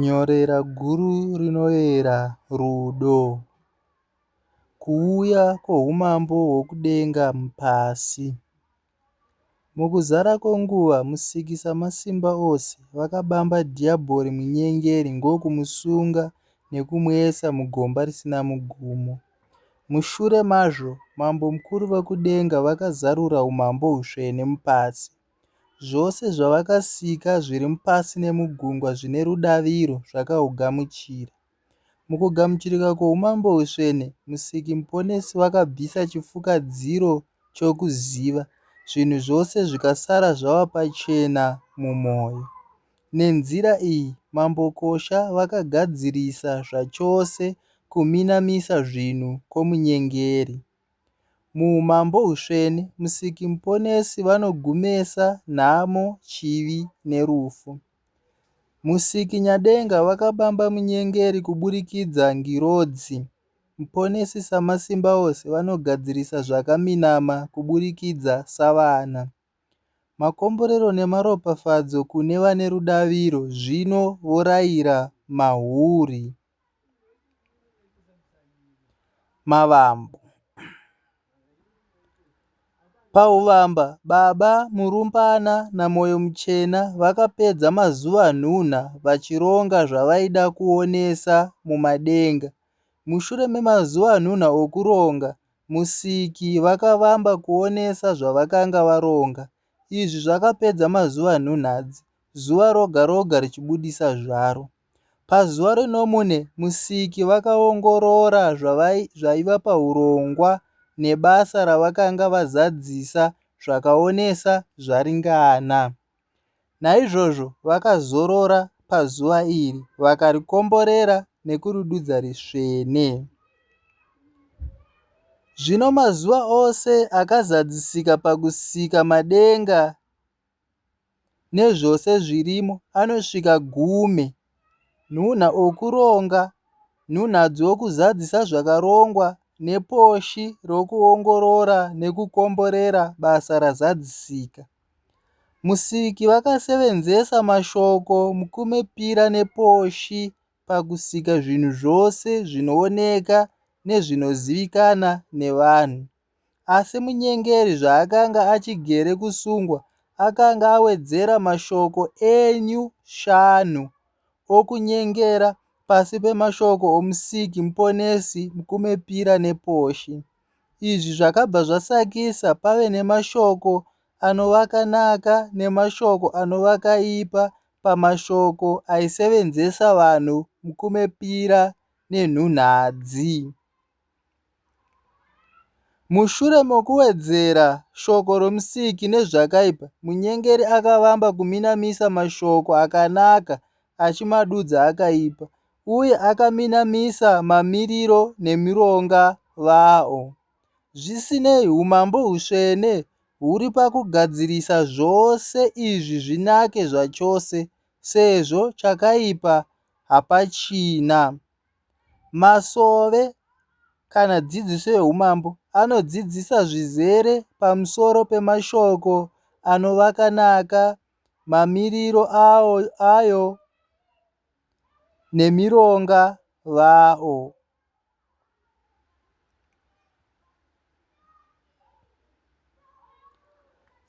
Nyorera guru rinoera rudo. Kuuya kwoUmambo hwokudenga pasi. Mukuzara kwenguva, Musiki Samasimba Ose vakabamba Dhiyabhori Munyengeri ndokumusunga nekumuisa mugomba risina mugumo. Mushure mazvo, Mambo Mukuru Vokudenga vakazarura Umambo Hutsvene mupasi. Zvose zvavakasika zviri mupasi nemugungwa zvine rudaviro zvakahugamuchira. Mukugamuchirika kwoumambo husvene, Musiki Muponesi vakabvisa chifukadziro chokuziva, zvinhu zvose zvikasara zvava pachena mumwoyo. Nenzira iyi, Mambokosha vakagadzirisa zvachose kuminamisa zvinhu kwomunyengeri. MuUmambo Husvene, Musiki Muponesi vanogumesa nhamo, chivi nerufu. Musiki Nyadenga vakabamba munyengeri kuburikidza ngirodzi. Muponesi Samasimbaose vanogadzirisa zvakaminama kuburikidza savana. Makomborero nemaropafadzo kune vane rudaviro zvino voraira mahuri. mavambo pahuvamba baba Murumbana naMoyo muchena vakapedza mazuva nhunha vachironga zvavaida kuonesa mumadenga mushure memazuva nhunha okuronga Musiki vakavamba kuonesa zvavakanga varonga izvi zvakapedza mazuva nhunhadzi zuva roga roga richibudisa zvaro. Pazuva rinomune, Musiki vakaongorora zvaiva pahurongwa nebasa ravakanga vazadzisa zvakaonesa zvaringana. Naizvozvo vakazorora pazuva iri, vakarikomborera nekuridudza risvene. Zvino mazuva ose akazadzisika pakusika madenga nezvose zvirimo anosvika gumi, nhunha okuronga, nhunha dzokuzadzisa zvakarongwa neposhi rokuongorora nekukomborera basa razadzisika. Musiki vakasevenzesa mashoko mukumipira neposhi pakusika zvinhu zvose zvinooneka nezvinozivikanwa nevanhu. Asi munyengeri zvaakanga achigere kusungwa akanga awedzera mashoko enyu shanu okunyengera pasi pemashoko oMusiki, Muponesi, Mukumepira nePoshi. Izvi zvakabva zvasakisa pave nemashoko anovakanaka nemashoko anovakaipa pamashoko aisevenzesa vanhu mukumepira nenhunhadzi. Mushure mokuwedzera shoko roMusiki nezvakaipa, munyengeri akavamba kuminamisa mashoko akanaka achimadudza akaipa, uye akaminamisa mamiriro nemironga vawo. Zvisinei, umambo hutsvene huri pakugadzirisa zvose izvi zvinake zvachose, sezvo chakaipa hapachina. Masove kana dzidziso yehumambo anodzidzisa zvizere pamusoro pemashoko anova akanaka, mamiriro ayo nemironga vawo.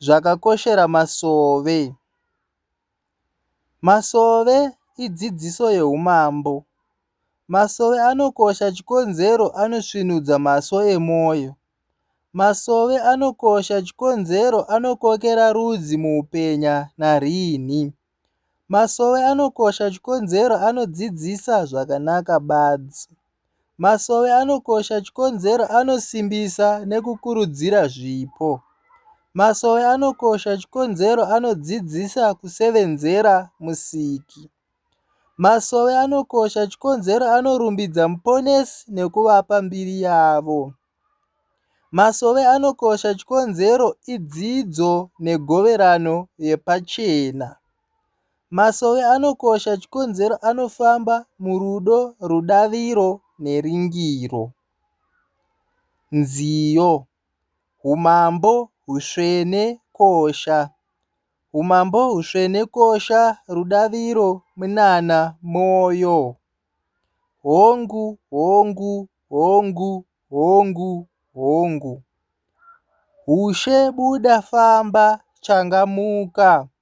Zvakakoshera masove. Masove idzidziso yeumambo. Masove anokosha chikonzero anosvinudza maso emwoyo. Masove anokosha chikonzero anokokera rudzi muupenya nariinhi. Masove anokosha chikonzero anodzidzisa zvakanaka badzi. Masowe anokosha chikonzero anosimbisa nekukurudzira zvipo. Masowe anokosha chikonzero anodzidzisa kusevenzera Musiki. Masowe anokosha chikonzero anorumbidza Muponesi nekuvapa mbiri yavo. Masowe anokosha chikonzero idzidzo negoverano yepachena. Masowe anokosha chikonzero anofamba murudo, rudaviro neringiro. Nziyo Humambo husvene kosha Humambo husvene kosha Rudaviro munana moyo Hongu hongu hongu hongu hongu Hushe buda famba changamuka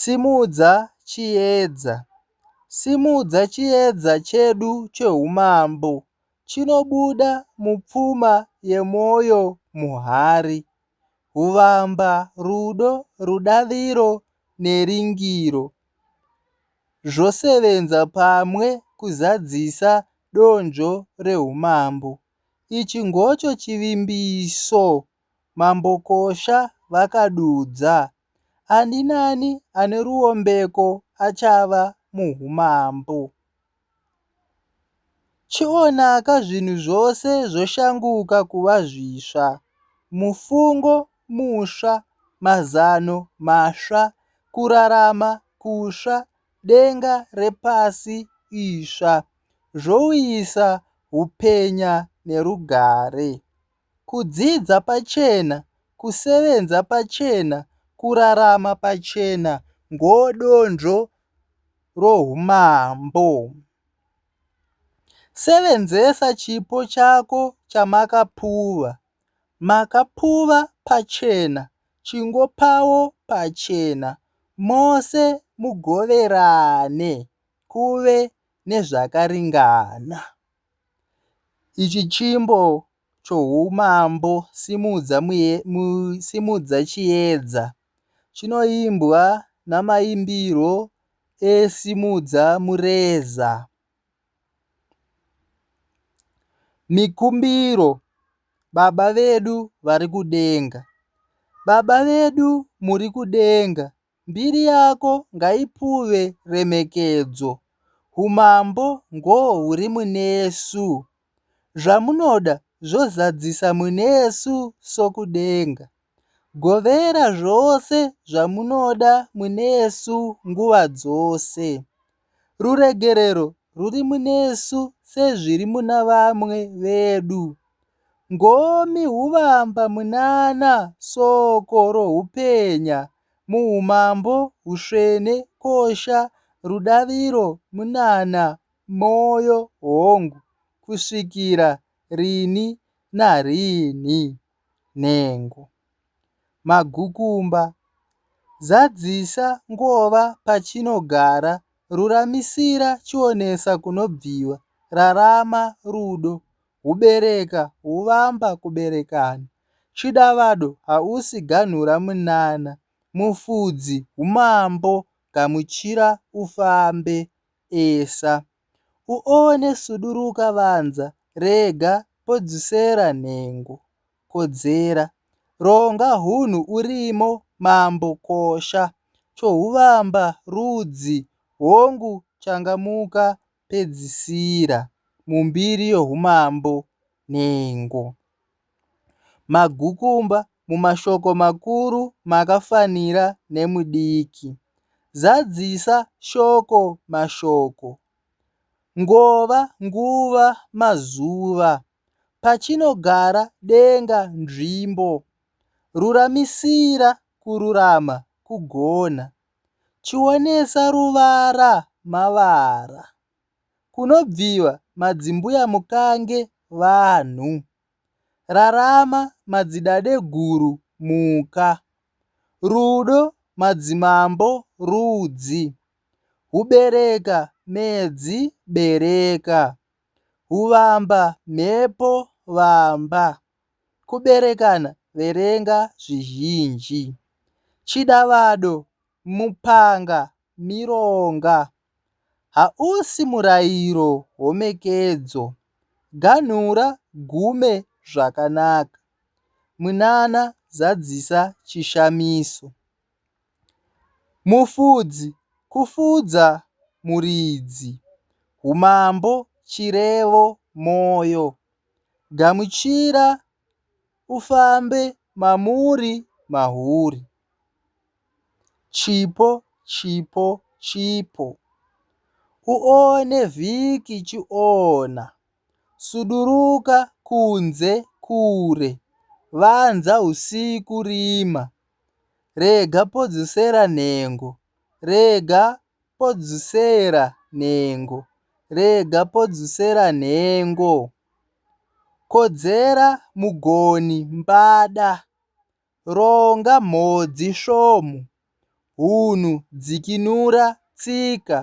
Simudza chiedza. Simudza chiedza chedu cheHumambo. Chinobuda mupfuma yemoyo muhari. Huvamba, rudo, rudaviro neringiro zvosevenza pamwe kuzadzisa donzvo reHumambo. Ichi ngocho chivimbiso. Mambokosha vakadudza, Ani naani ane ruombeko achava muumambo. Chionaka zvinhu zvose zvoshanguka kuva zvisva, mufungo musva, mazano masva, kurarama kutsva, denga repasi itsva, zvouyisa upenya nerugare. Kudzidza pachena Kusevenza pachena Kurarama pachena Ngoodonzvo rohumambo Sevenzesa chipo chako chamakapuwa Makapuwa pachena Chingopawo pachena Mose mugoverane Kuve nezvakaringana Ichi chimbo chohumambo simudza simudza chiedza. Chinoimbwa namaimbirwo e simudza mureza. Mikumbiro baba vedu vari kudenga. Baba vedu muri kudenga. Mbiri yako ngaipuwe remekedzo, Umambo ngohuri munesu, Zvamunoda zvozadzisa munesu sokudenga, Govera zvose zvamunoda munesu nguva dzose. Ruregerero rwuri munesu sezviri muna vamwe vedu. Ngomi huvamba munana soko rohupenya muhumambo husvene kosha rudaviro munana moyo hongu kusvikira rini narini. nhengo, magukumba, zadzisa ngova pachinogara ruramisira chionesa kunobviwa rarama rudo hubereka huvamba kuberekana chidavado hausi ganhura munana mufudzi humambo gamuchira ufambe esa. Uone suduruka vanza rega podzusera nhengo kodzera Ronga hunhu urimo mambo kosha Chohuvamba rudzi hongu changamuka Pedzisira mumbiri yohumambo nhengo Magukumba mumashoko makuru makafanira nemudiki. Zadzisa shoko mashoko. Ngova nguva mazuva. Pachinogara denga nzvimbo. Ruramisira kururama kugona. Chionesa ruvara mavara. Kunobviwa madzimbuya mukange vanhu Rarama madzidadeguru muka Rudo madzimambo rudzi Hubereka medzi bereka Huvamba mhepo vamba Kuberekana verenga zvizhinji Chidavado Mupanga, Mironga, hausi murairo homekedzo, ganhura gume zvakanaka, Mwinana zadzisa chishamiso, Mufudzi kufudza muridzi, Humambo chirevo moyo, Gamuchira, Ufambe mamuri mahuri. Chipo chipo chipo. Uone vhiki chiona. Suduruka kunze kure. Vanza usiku rima. Rega podzosera nhengo. Rega podzosera nhengo. Rega podzosera nhengo. Kodzera mugoni mbada, ronga mhodzi svomu, hunhu dzikinura tsika,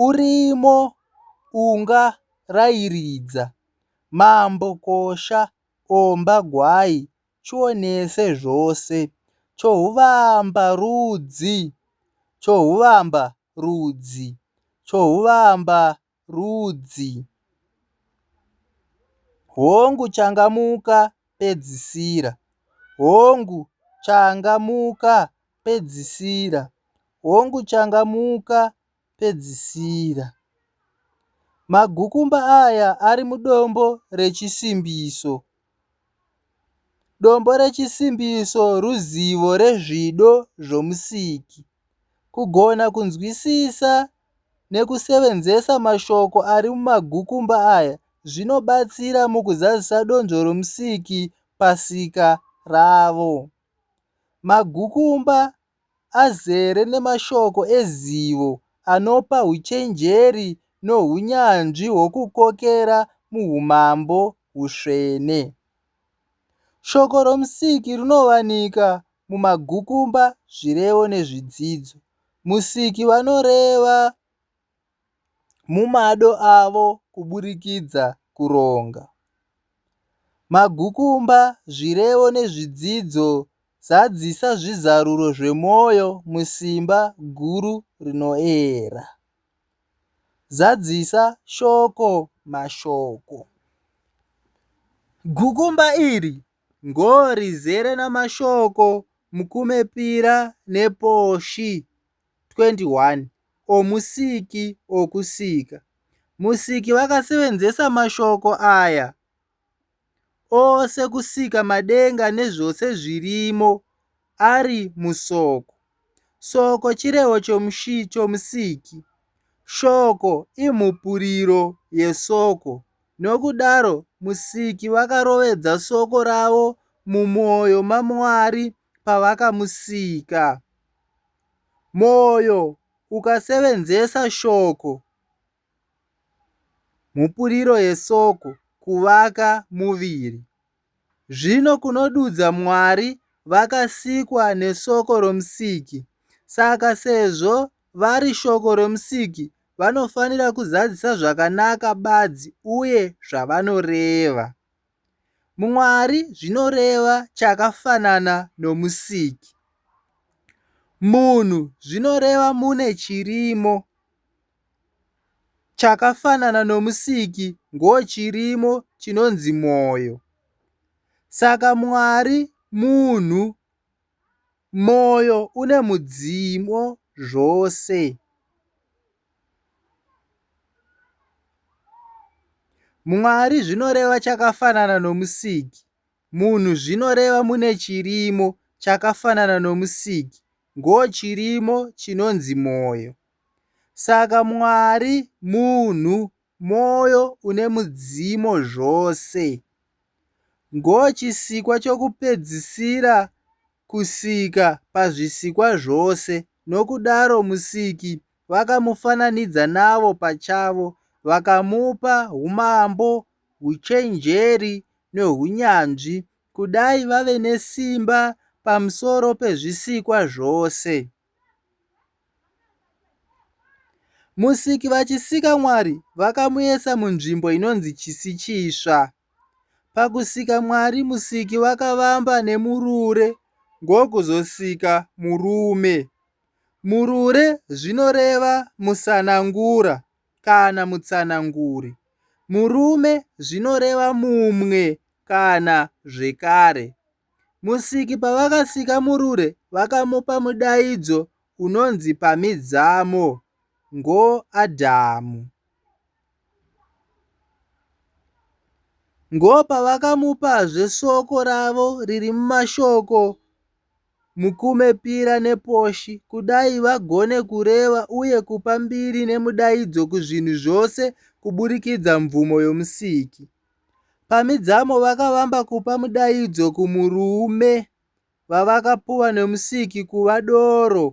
urimo unga rairidza, mambo kosha omba gwai chionese zvose, chohuvamba rudzi, chohuvamba rudzi, chohuvamba rudzi, Hongu, changamuka, pedzisira, Hongu, changamuka, pedzisira, Hongu, changamuka, pedzisira. Magukumba aya ari mudombo rechisimbiso. Dombo rechisimbiso ruzivo rezvido zvoMusiki. Kugona kunzwisisa nekusevenzesa mashoko ari mumagukumba aya zvinobatsira mukuzadzisa donzvo roMusiki pasika ravo. Magukumba azere nemashoko ezivo anopa uchenjeri nounyanzvi hwokukokera muUmambo husvene. Shoko roMusiki rinowanika mumagukumba, zvirevo nezvidzidzo. Musiki vanoreva. mumado avo kuburikidza kuronga. Magukumba, zvirevo nezvidzidzo zadzisa zvizaruro zvemwoyo musimba guru rinoera. Zadzisa shoko mashoko. Gukumba iri ngo rizere namashoko mukumepira neposhi. 21 oMusiki okusika. Musiki vakasevenzesa mashoko aya ose kusika madenga nezvose zvirimo ari musoko. Soko chirevo choMusiki. Shoko imhupuriro yesoko. Nokudaro Musiki vakarovedza soko ravo mumwoyo maMwari pavakamusika. Moyo ukasevenzesa shoko mhupuriro yesoko kuvaka muviri. Zvino kunodudza Mwari vakasikwa nesoko romusiki. Saka sezvo vari shoko romusiki vanofanira kuzadzisa zvakanaka badzi uye zvavanoreva. Mwari zvinoreva chakafanana noMusiki. Munhu zvinoreva mune chirimo. Chakafanana noMusiki ngochirimo chinonzi mwoyo. Saka Mwari munhu Moyo une mudzimu zvose. Mwari zvinoreva chakafanana nomusiki. Munhu zvinoreva mune chirimo chakafanana nomusiki. Ngo chirimo chinonzi moyo. Saka Mwari, munhu, Mwoyo une mudzimu zvose. Ngo chisikwa chokupedzisira kusika pazvisikwa zvose, nokudaro Musiki vakamufananidza navo pachavo, vakamupa umambo, uchenjeri, nohunyanzvi, kudai vave nesimba pamusoro pezvisikwa zvose. Musiki vachisika Mwari vakamuisa munzvimbo inonzi chisi chitsva. Pakusika Mwari musiki vakavamba nemurure ngokuzosika murume. Murure zvinoreva musanangura kana mutsananguri. Murume zvinoreva mumwe kana zvekare. Musiki pavakasika Murure vakamupa mudaidzo unonzi Pamidzamo ngoAdhamu. Ngo pavakamupazve soko ravo riri mumashoko Mukume Pira nePoshi kudai vagone kureva uye kupa mbiri nemudaidzo kuzvinhu zvose kuburikidza mvumo yoMusiki. Pamidzamo vakavamba kupa mudaidzo kumurume vavakapuwa nemusiki kuva doro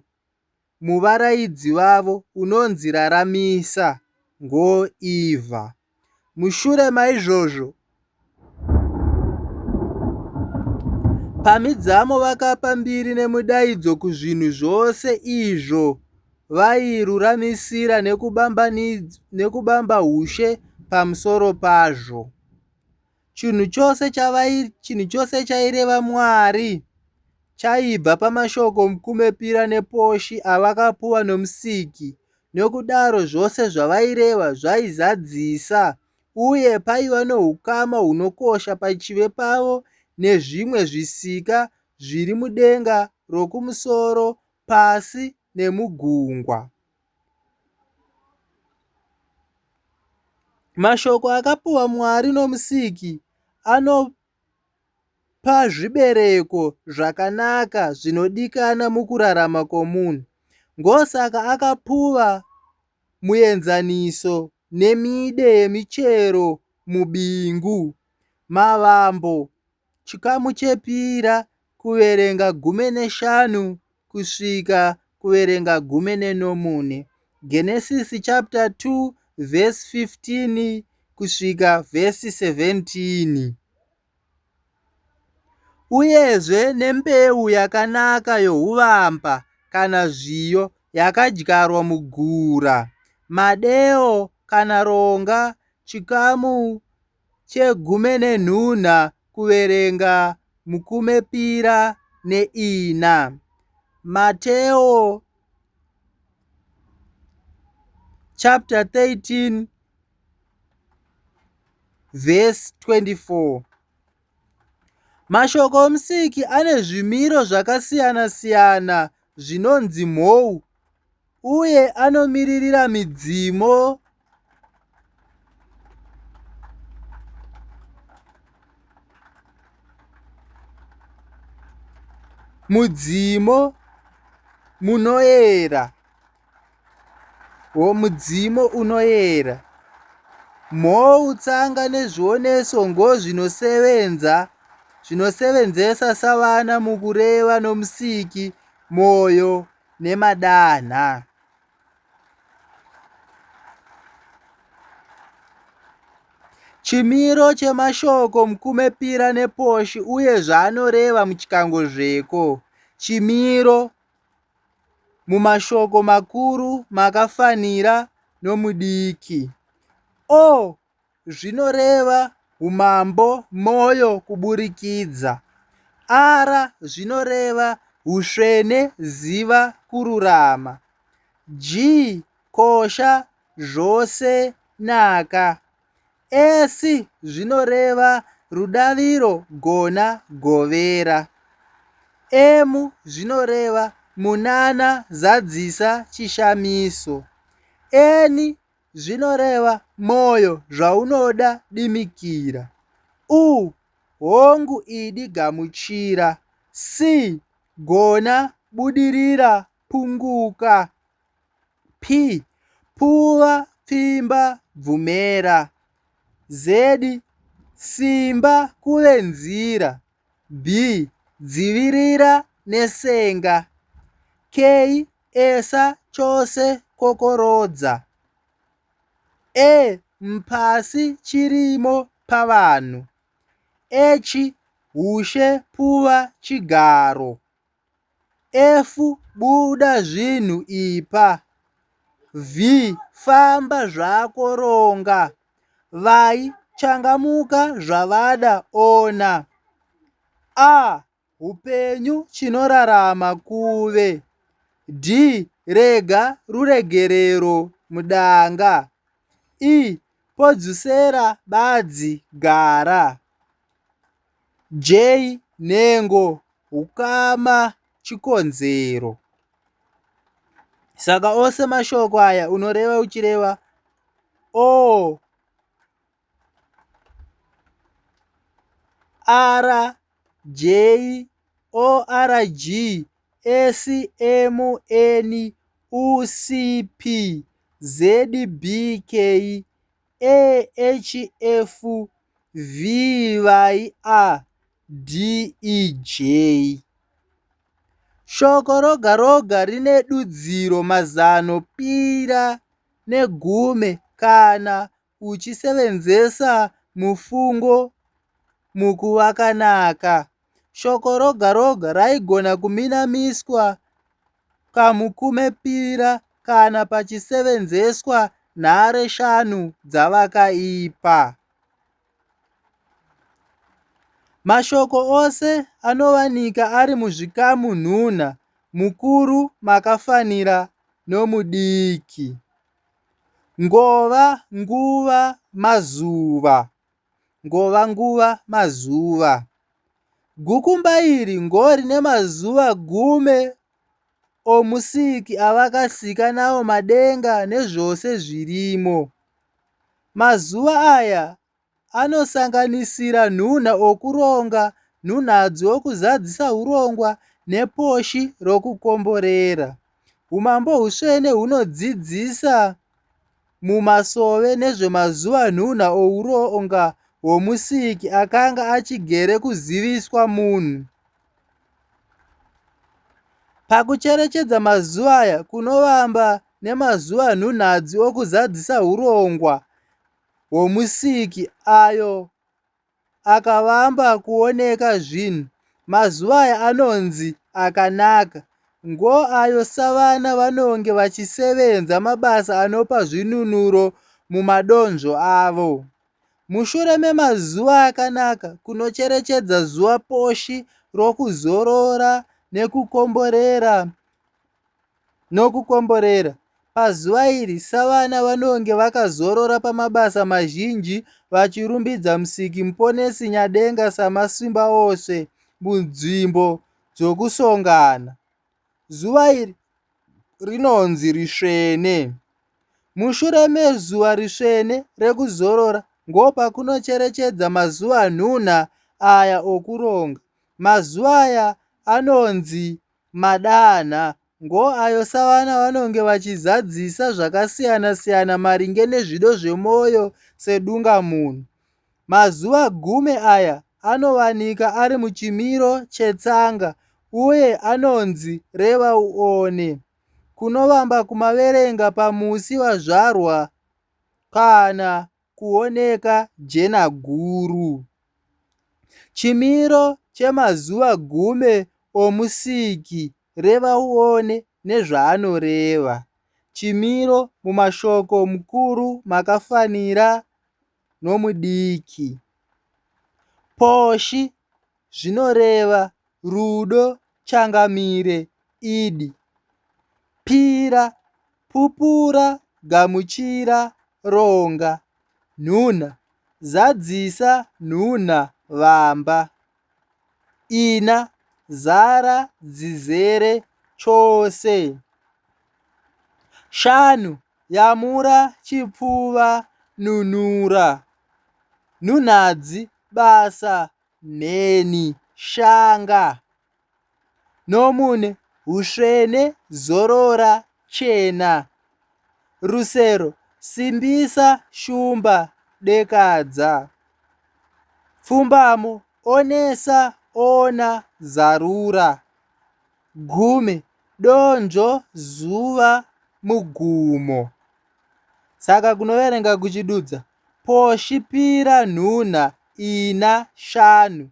muvaraidzi vavo unonzi Raramisa Ngoiva. Mushure maizvozvo, pamidzamo vakapa mbiri nemudaidzo kuzvinhu zvose izvo vairuramisira nekubamba ushe pamusoro pazvo. Chinhu chose chinhu chose chaireva Mwari chaibva pamashoko omukumepira neposhi avakapuwa noMusiki. Nokudaro, zvose zvavaireva zvaizadzisa, uye paiva noukama hunokosha pachivi pavo nezvimwe zvisika zviri mudenga rokumusoro Pasi nemugungwa. Mashoko akapiwa Mwari noMusiki anopa zvibereko zvakanaka zvinodikana mukurarama kwomunhu. Ngosaka akapuwa muenzaniso nemide yemichero mubingu, mavambo, Chikamu chepira kuverenga gumi neshanu kusvika kuverenga gumi nenomune. Genesis chapter 2 verse 15 kusvika verse 17. Uyezve nembeu yakanaka yohuvamba kana zviyo yakadyarwa mugura, madeo kana ronga, chikamu chegumi nenhuna kuverenga mukumepira neina. Mateo chapter 13 verse 24 mashoko omusiki ane zvimiro zvakasiyana-siyana zvinonzi mhou uye anomiririra midzimu. Mudzimu munoera. wo mudzimu unoyera. Mhou, tsanga nezvioneso ngozvinosevenza zvinosevenzesa savana mukureva nomusiki, mwoyo nemadanha. Chimiro chemashoko mukume pira neposhi uye zvaanoreva muchikango zveko. Chimiro. mumashoko makuru makafanira nomudiki. O zvinoreva Umambo Moyo kuburikidza. R zvinoreva Usvene Ziva Kururama. G kosha Zvose Naka. Esi zvinoreva rudaviro gona govera. Emu zvinoreva munana zadzisa chishamiso. Eni zvinoreva moyo zvaunoda dimikira. U hongu idi gamuchira. Si gona budirira punguka. P, Pfuva, pfimba, bvumera Z, Simba, kuve nzira B, Dzivirira nesenga K, Esa, chose, kokorodza E, Mpasi, chirimo, pavanhu H, Hushe, pfuva, chigaro. F buda zvinhu ipa. V famba zvako ronga. Vai changamuka zvavada ona. A hupenyu chinorarama kuve. D rega ruregerero mudanga. E podzusera badzi gara. Jay nhengo hukama chikonzero saka ose mashoko aya unoreva uchireva oo ara jay org smn ucp zbk AHF vivai a DEJ. Shoko roga roga rine dudziro mazano pira negume kana uchisevenzesa mufungo mukuvakanaka. Shoko roga roga raigona kuminamiswa kamukumepira kana pachisevenzeswa nhare shanu dzavakaipa. Mashoko ose anovanika ari muzvikamu nhunha, mukuru makafanira nomudiki. Ngova, nguva, mazuva. ngova nguva mazuva gukumba iri ngori nemazuva gume omusiki avakasika nawo madenga nezvose zvirimo mazuva aya anosanganisira nhunha okuronga nhunhadzi wokuzadzisa urongwa neposhi rokukomborera umambo husvene hunodzidzisa mumasove nezvemazuvanhuna oUronga hwoMusiki akanga achigere kuziviswa munhu. Pakucherechedza mazuva aya kunovamba nemazuvanhunhadzi okuzadzisa urongwa hwoMusiki ayo akavamba kuoneka zvinhu mazuva aya anonzi akanaka ngo ayo savana vanonge vachisevenza mabasa anopa zvinunuro mumadonzvo avo. Mushure memazuva akanaka kunocherechedza zuva poshi rokuzorora nekukomborera Nokukomborera, pazuva iri savana vanonge vakazorora pamabasa mazhinji vachirumbidza Musiki Muponesi Nyadenga samasimba ose munzvimbo dzokusongana. Zuva iri rinonzi risvene. Mushure mezuva risvene rekuzorora ngopakunocherechedza mazuva nhunha aya okuronga. Mazuva aya anonzi Madanha, ngo ayo savana vanonge vachizadzisa zvakasiyana-siyana maringe nezvido zvemoyo sedungamunhu. Mazuva gume aya anovanika ari muchimiro chetsanga uye anonzi reva uone. Kunovamba kumaverenga pamusi wazvarwa kana kuoneka jena guru. Chimiro chemazuva gume oMusiki reva uone nezvaanoreva. Chimiro mumashoko mukuru makafanira nomudiki. Poshi zvinoreva Rudo Changamire, Idi, Pira, Pupura, Gamuchira, Ronga, Nhunha, Zadzisa, Nhunha, Vamba, Ina, Zara, Dzizere, Chose, Shanu, Yamura, Chipfuva, Nunura, Nhunhadzi, Basa, Mheni, shanga, nomune, husvene, zorora, chena, rusero, simbisa, shumba, dekadza, pfumbamo, onesa, ona, zarura, gume, donzvo, zuva, mugumo. Saka kunoverenga kuchidudza Poshipira nhunha ina shanu,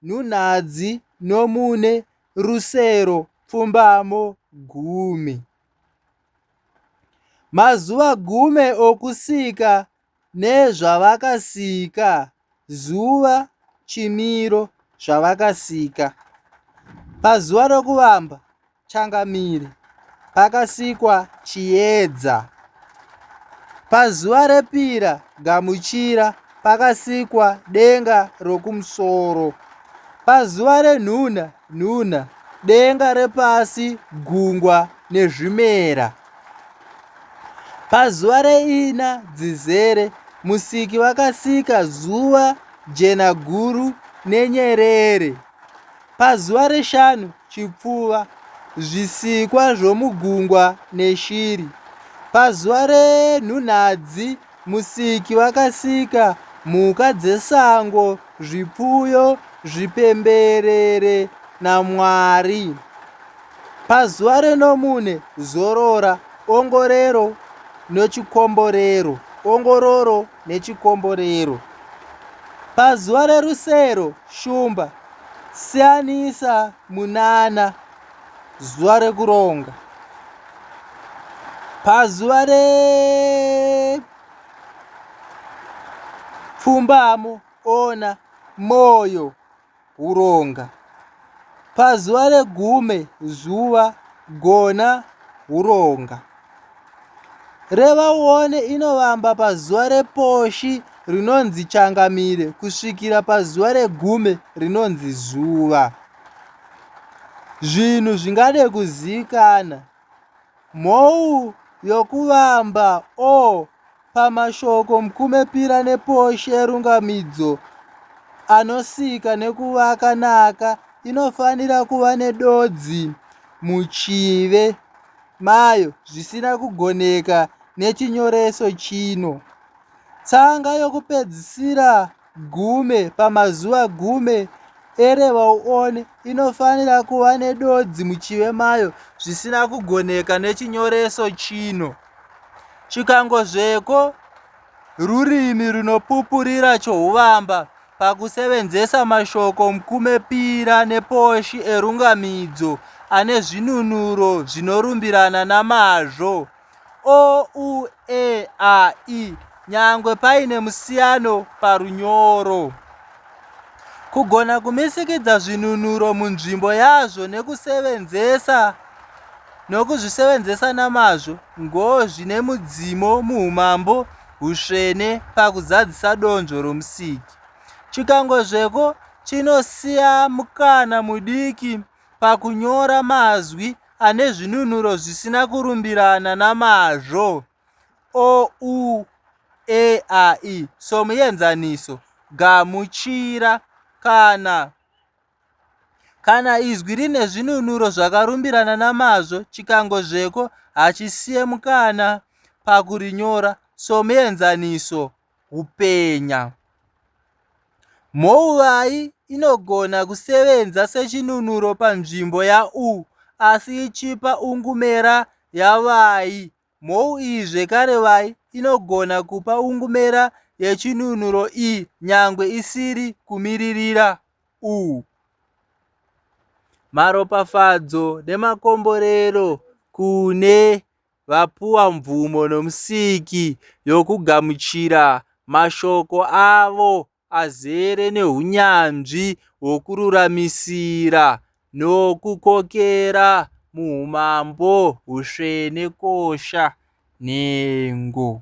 nhunhadzi nomune, rusero pfumbamo gumi. Mazuva gumi okusika nezvavakasika, zuva, chimiro, zvavakasika. Pazuva rokuvamba, Changamire. Pakasikwa chiedza. Pazuva repira, gamuchira, pakasikwa denga rokumusoro. Pazuva renhuna, nhuna, denga repasi, gungwa nezvimera. Pazuva reina, dzizere, musiki vakasika zuva, jena guru nenyerere. Pazuva reshanu chipfuva, zvisikwa zvomugungwa neshiri. Pazuva renhunhadzi musiki vakasika mhuka dzesango, zvipfuyo, zvipemberere naMwari. Pazuva renomune zorora, ongorero nochikomborero, ongororo nechikomborero. Pazuva rerusero shumba siyanisa munana zuva rekuronga. Pazuva repfumbamo ona moyo. huronga. Pazuva regume zuva gona huronga. Reva uone inovamba pazuva reposhi rinonzi changamire kusvikira pazuva regume rinonzi zuva. Zvinhu zvingade kuzikana Mhou yokuvamba o pamashoko mkumepira neposhe rungamidzo anosika nekuvaka naka inofanira kuva nedodzi muchive mayo zvisina kugoneka nechinyoreso chino. Tsanga yokupedzisira gume pamazuva gume erevauone inofanira kuva nedodzi muchive mayo zvisina kugoneka nechinyoreso chino chikangozveko rurimi runopupurira chouvamba pakusevenzesa mashoko mukumepira neposhi erungamidzo ane zvinunuro zvinorumbirana namazvo o u e a i nyangwe paine musiyano parunyoro kugona kumisikidza zvinunuro munzvimbo yazvo nekusevenzesa nokuzvisevenzesa namazvo ngo zvine mudzimo muumambo husvene pakuzadzisa donzvo romusiki chikangozveko chinosiya mukana mudiki pakunyora mazwi ane zvinunuro zvisina kurumbirana namazvo o u e a i somuenzaniso gamuchira kana kana izwi rine zvinunuro zvakarumbirana namazvo chikangozveko hachisiye mukana pakurinyora somuenzaniso hupenya. Mhouvai inogona kusevenza sechinunuro panzvimbo ya u asi ichipa ungumera ya vhai. Mhou iyi zvekare vhai inogona kupa ungumera yechinunuro i nyangwe isiri kumiririra u. Maropafadzo nemakomborero kune vapuwa mvumo noMusiki yokugamuchira mashoko avo azere nounyanzvi hwokururamisira nokukokera muumambo husvene kosha nhengo.